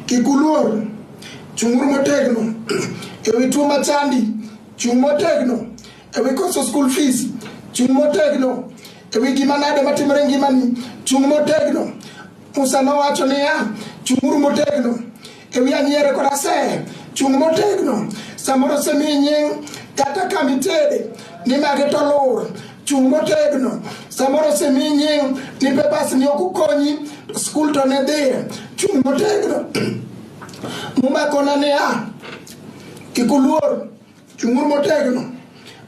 Kik uluor, chung'uru motegno e wi tuo machandi, chung' motegno e wi koso school fees, chung' motegno e wi gima nade matimore e ngimani, chung' motegno. Musa nowacho niya, chung'uru motegno e wi anyiere kod asere, chung' motegno samoro osemiyi nying' kata kama itede nimage to lur chung' motegno samoro osemi nying ni papers ni ok ukonyi skul to ne dhiye chung' motegno mumakona ni a kik uluor chung'uru motegno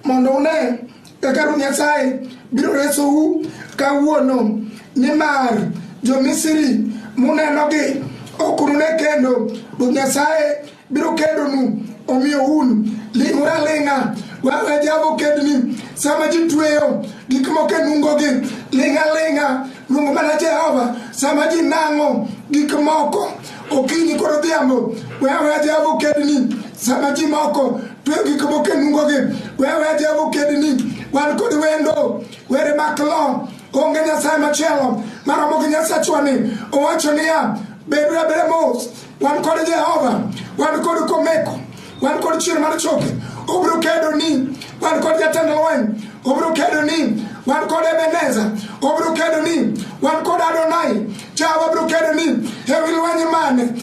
mondo une kaka Ruoth Nyasaye biro resou kawuono nimar jo-Misri munenogi ok unune kendo Ruoth Nyasaye biro kedonu omiyo un ling'uru aling'a wawe java okedni sama ji tweyo gik moko e nungogi ling' aling'a luong mana jehova sama ji nang'o gik moko okinyi koro odhiambo wawe java okedni sama ji moko tweyo gik moko e nungogi wawe java okedni wan kod wendo were mak lo onge nyasaye machielo maromo gi nyasachwani owacho niya bedo abere mos Wan kod Jehova, wan kod Komeko, wan kod chier mar choke, obiro kedo ni, wan kod jatend lweny, obiro kedo ni, wan kod Ebeneza, obiro kedo ni, wan kod Adonai, Jehova biro kedo ni, ewi lweny mane